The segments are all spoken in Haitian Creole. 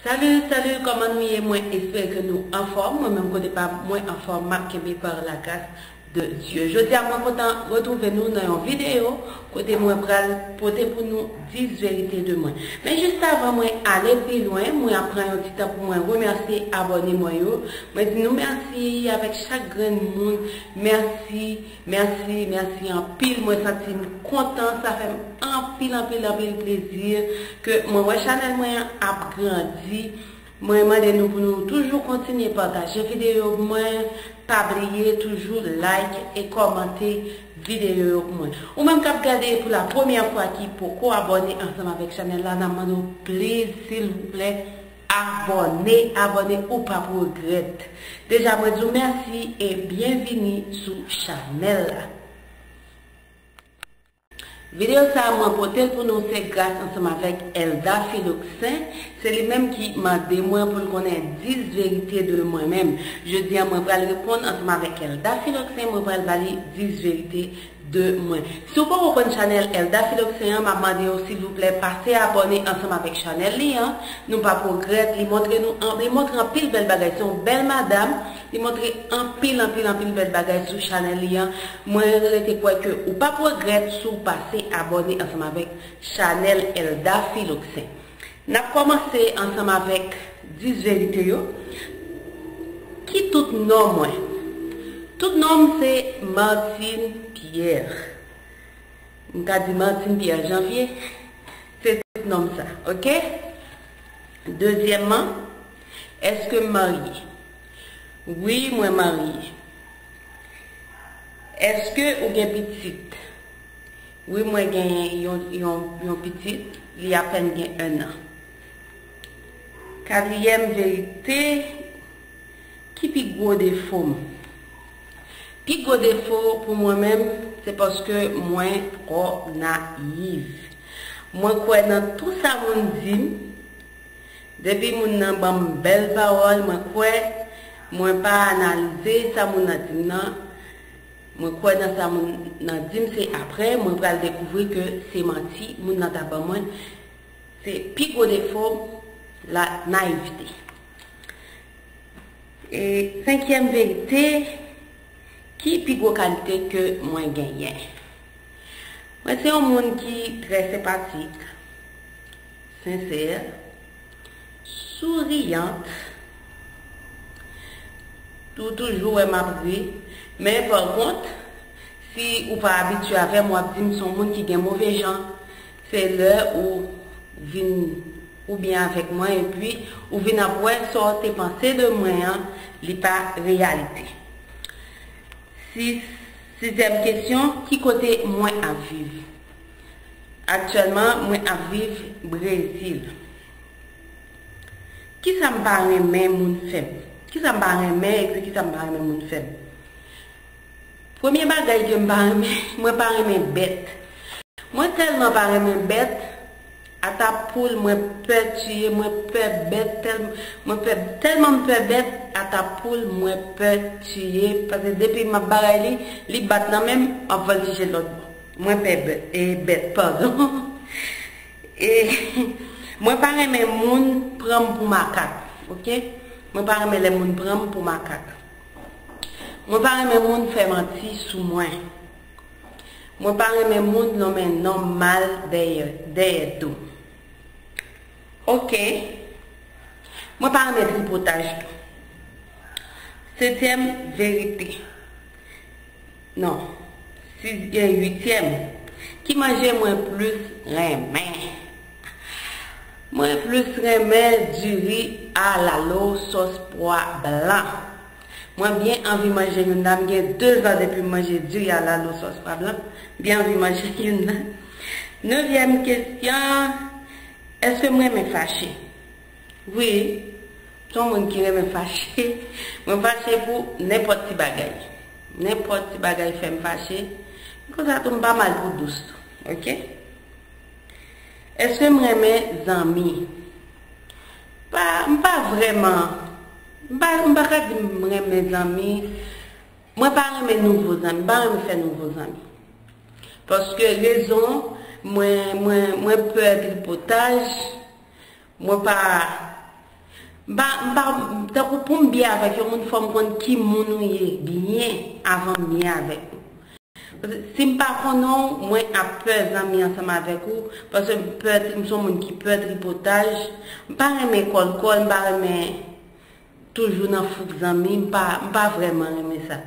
Salut salut kòman nou ye mwen espere ke nou anfòm mwen menm kote pam mwen anfòm map kenbe par la grâce de Dieu jodia mwen kontan retrouve nou nan yon video kote mwen pral pote pou nou 10 verite de mwen men juste avan mwen ale pi lwen mwen ap pran yon ti tan pou mwen remèsye abòne mwen yo mwen di nou mèsi avèk chak grenn moun mèsi Merci merci anpil mwen santim kontan sa fèm anpil anpil anpil plezi ke mwen wè chanèl mwen an ap grandi mwen mande nou pou nou toujou kontinye pataje videyo pou mwen pa bliye toujou like e kòmante videyo yo pou mwen ou menm kap gade pou la premyè fwa ki poko abòne ansanm avèk chanèl la nan mande w pliz silvouplè Abòne abòne ou pap regrèt. Deja mwen di w mèsi e byen vini sou chanèl la. Video sa mwen pote l pou nou se gras ansanm avèk Elda Philoxin, se li menm ki mande mwen pou l konnen 10 verite de mwen menm. Jodi an mwen pral reponn ansanm avèk Elda Philoxin mwen pral ba li 10 verite de mwen. Si w poko konn chanèl Elda Philoxin an map mande w silvouplè pase abòne ansanm avèk chanèl li an, nou pap regrèt, li montre nou an li montre anpil bèl bagay se yon bèl madam, li montre anpil anpil anpil bèl bagay sou chanèl li an, mwen rete kwè ke ou pap regrèt si w pase abòne ansanm avèk chanèl Elda Philoxin. N ap kòmanse ansanm avèk dis verite yo, Ki tout non mwen? Tout non m se Martine Pierre. M ka di Martine Pierre Janvier, se tout non m sa. Ok? Dezyèmman, Èske m marye? Wi, mwen marye. Èske ou gen pitit? Wi mwen genyen yon pitit li apèn gen 1 an. Katriyèm verite, ki pi gwo defo m? Pi gwo defo pou mwen menm se paske mwen twò nayiv. Mwen kwè nan tou sa moun di m, depi moun nan ban m bèl pawòl mwen kwè, mwen pa analize sa moun nan di m nan, Mwen kwè nan sa moun nan dim se aprè mwen pral dekouvri ke se manti moun nan ta ban mwen se pi gwo defo m la nayivte e senkyèm verite ki pi gwo kalite ke mwen genyen mwen se yon moun ki trè senpatik sensè. Souriante, Ou toujou wè map ri, men pa kont, si ou pa abitye avèm wap dim son moun ki gen move jan. Se lè ou vin ou byen avèk mwen epi ou vin ap wè sa w te panse de mwen an li pa reyalite. Sizyèm kesyon, ki kote mwen ap viv? Aktyèlman mwen ap viv Brezil. Kisa m pa renmen moun fè m? Kisa m pa renmen epi kisa m pa renmen moun fè m? Premye bagay ke m pa renmen, mwen pa renmen bèt. Mwen tèlman pa renmen bèt, ata poul mwen pè tiye, mwen pè bèt tèlman, mwen pè, tèlman m pè bèt, ata poul mwen pè tiye, pase depi m ap bagay li, li bat nan men m, m ap voltije lòt bò. Mwen pè bèt padon. E mwen pa renmen moun pranm pou makak ok mwen pa renmen lè moun pranm pou makak mwen pa renmen moun fè manti sou mwen mwen pa renmen moun nonmen nonm mal dèyè do ok mwen pa renmen tripotaj tou setyèm verite Non. 6 gen 8 tièm. Ki manje mwen plus renmen? Mwen plus renmen du riz a lalo sòs pwa blan. Mwen byen anvi manje youn la. M gen 2 zan depi m manje du riz a lalo sòs pwa blan. M byen anvi manje youn la. Nevyèm kesyon, Èske m renmen fache? Wi, m son moun ki renmen fache. Mwen fache pou nenpòt ti bagay. Nenpòt ti bagay fè m fache. Men konsa tou m pa mal pou dous tou. Ok? Eske m renmen zanmi? Pa, m pa vrèman. M pa, m pa ka di m renmen zanmi. Mwen pa renmen nouvo zanmi. M pa renmen fè nouvo zanmi. Paske rezon, mwen, mwen, mwen pè tripotaj. Mwen pa M pa M pa Tankou pou m byen avèk yon moun fò m konn ki moun ou ye byen avan m byen avèk ou. Paske si m pa konnen w mwen ap pè zanmi ansanm avèk ou paske m pè m son moun ki pè tripotaj m pa renmen kòl kòl m pa renmen toujou nan fouk zanmi m pa m pa vrèman renmen sa.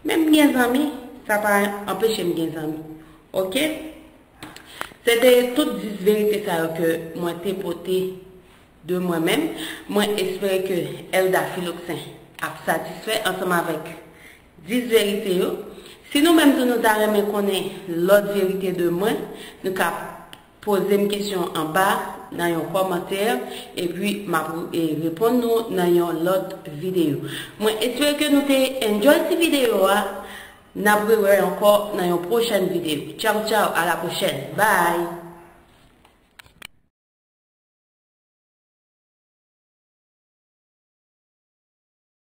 Men m gen zanmi sa pa anpeche m gen zanmi ok. Se te tout 10 verite sa yo ke mwen te pote de mwen menm. Mwen espere ke Elda Philoxin ap satisfè ansanm avèk 10 verite yo. Si nou menm tou nou ta renmen konnen lòt verite de mwen, nou ka poze m kesyon anba nan yon kòmantè epi m ap reponn nou nan yon lòt videyo. Mwen espere ke nou te enjoy ti videyo a. Nap re wè ankò nan yon prochèn video. Tchaw tchaw a la prochèn. Bye!